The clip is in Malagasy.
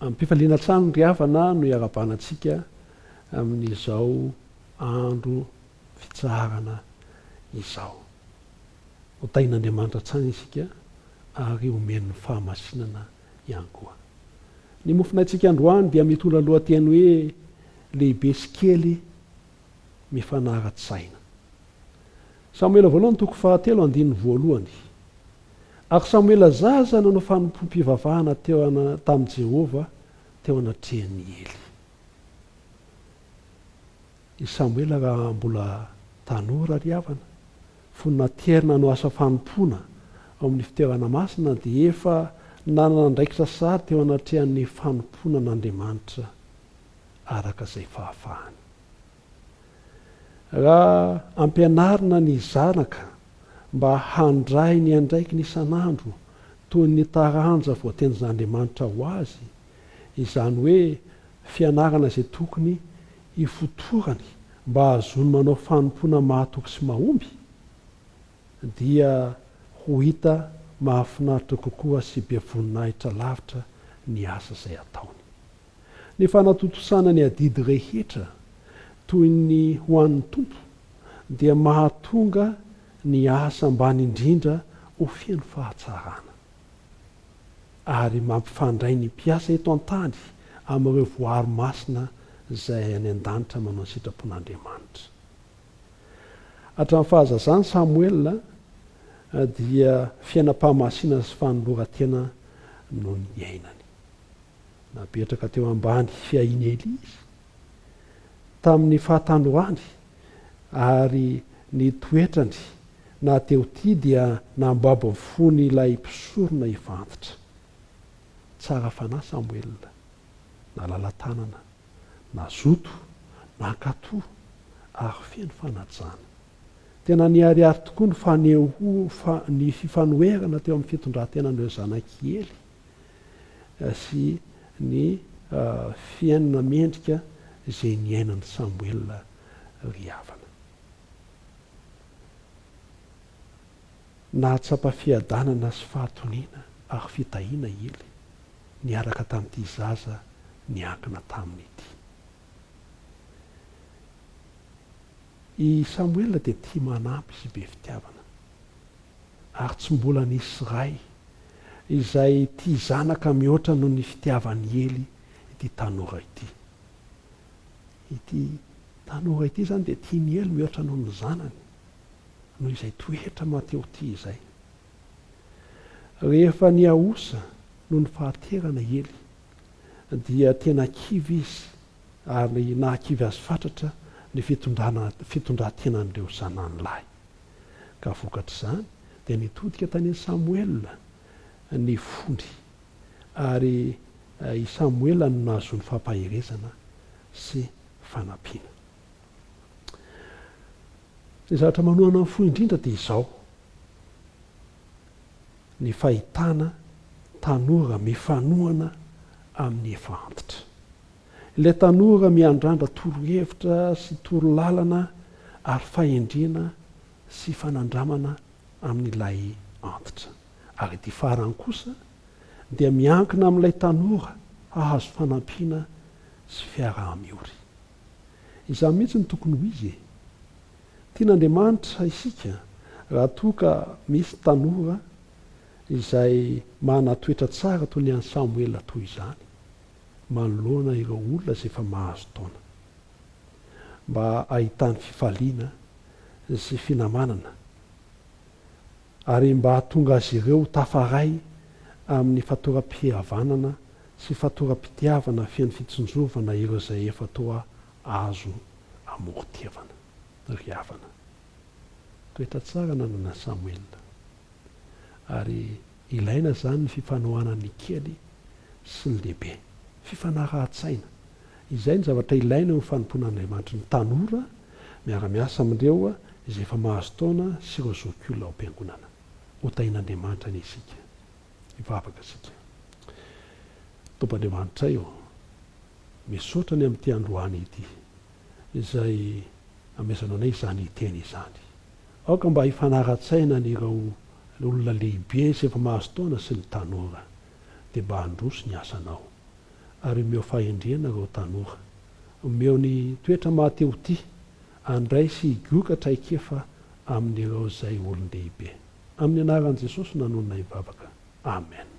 Amim-pifaliana hatrany ry havana no iarahabana antsika amin'izao andro fitsaharana izao. Ho tahin'Andriamanitra hatrany isika ary homen'ny fahamasinana ihany koa. Ny mofonaintsika androany dia mitondra lohateny hoe Lehibe sy kely mifanara-tsaina. Samoela voalohany toko fahatelo andininy voalohany. Ary Samoela zaza nanao fanompoam-pivavahana teo tamin'i Jehovah teo anatrehan'i Ely. I Samoela raha mbola tanora ry havana, fony naterina hanao asa fanompoana ao amin'ny fitoerana masina dia efa nanana andraikitra sahady teo anatrehan'ny fanompoana an'Andriamanitra araka izay fahafahany. Raha ampianarina ny zanaka mba handray ny andraikiny isan'andro toy ny taranja voatenjn'Andriamanitra ho azy, izany hoe fianarana izay tokony hifotorany mba hahazoany manao fanompoana mahatoky sy mahomby, dia ho hita mahafinaritra kokoa sy be voninahitra lavitra ny asa izay ataony. Ny fanatontosana ny adidy rehetra toy ny ho an'ny Tompo dia mahatonga ny asa ambany indrindra ho feno fahatsarana ary mampifandray ny mpiasa eto an-tany amin'ireo voary masina izay any an-danitra manao ny sitrapon'Andriamanitra. Hatramin'ny fahazazany Samoela dia fiainam-pahamasinana sy fanoloran-tena no niainany. Napetraka teo ambany fiahian'i Elia izy tamin'ny fahatandroany, ary ny toetrany na teo tia dia nambabo ny fon'ilay mpisorona efa antitra. Tsara fanahy Samoela, nalala tanana, nazoto, nankatò, ary feno fanajana. Tena niharihary tokoa ny fifanoherana teo amin'ny fitondrantenan'ireo zanak'i Ely. sy ny fihainona mendrika izay niainan'i Samoela ry havana. Nahatsapa fiadanana sy fahatoniana ary fitahiana i Ely niaraka tamin'ity zaza niankina taminy ity. I Samoela dia tia manampy sy be fitiavana. ary tsy mbola nisy ray izay tia zanaka mihoatra noho ny fitiavan'i Ely ity tanora ity. Ity tanora ity izany dia tian'i Ely mihoatra noho ny zanany, noho izay toetra mateotia izay. Rehefa nihaosa noho ny fahaterana i Ely, dia tena kivy izy ary nahakivy azy fatratra ny fitondran-tenan'ireo zanany lahy. ka vokatr'izany dia nitodika tany Samoela ny fony, ary i Samoela no nahazoany fampaherezana sy fanampiana. Ny zavatra manohana ny fo indrindra dia izao, ny fahitana tanora mifanohana amin'ny efa antitra. Ilay tanora miandrandra torohevitra sy torolalana ary fahendrena sy fanandramana amin'ilay antitra. Ary ity farany kosa dia miankina amin'ilay tanora hahazo fanampiana sy fiaraha-miory. Izany mihitsy no tokony ho izy e! Tian'Andriamanitra isika raha toa ka misy tanora izay manana toetra tsara toy ny an'i Samoela toy izany. manoloana ireo olona izay efa mahazo taona, mba hahitany fifaliana sy finamanana ary mba hahatonga azy ireo ho tafaray amin'ny fatoram-pihavanana sy fatoram-pitiavana feno fitsinjovana ireo izay efa toa azo amoron-tiavana. Ry havana, toetra tsara nananan'i Samuel, ary Ilaina izany ny fifanohana ny kely sy ny lehibe. Fifanarahan-tsaina. Izay no zavatra ilaina eo amin'ny fanompoan'Andriamanitry ny tanora miara-miasa amin'ireo izay efa mahazo taona sy ireo zokiolona ao am-piangonana. Hotahian'Andriamanitra anie isika. Hivavaka isika. Tompo Andriamanitray ô, misaotra ny amin'ity androany ity izay amezanao anay izany hiteny izany. Aoka mba hifanara-tsaina an' ireo olona lehibe sy efa mahazo taona sy ny tanora, dia mba handroso ny asanao. Ary omeo fahendrena ireo tanora. Omeo ny toetra mahatehotia handray sy higoka traikefa amin' ireo izay olon-dehibe. Amin' ny anaran' Jesosy no nanononay vavaka. Amen.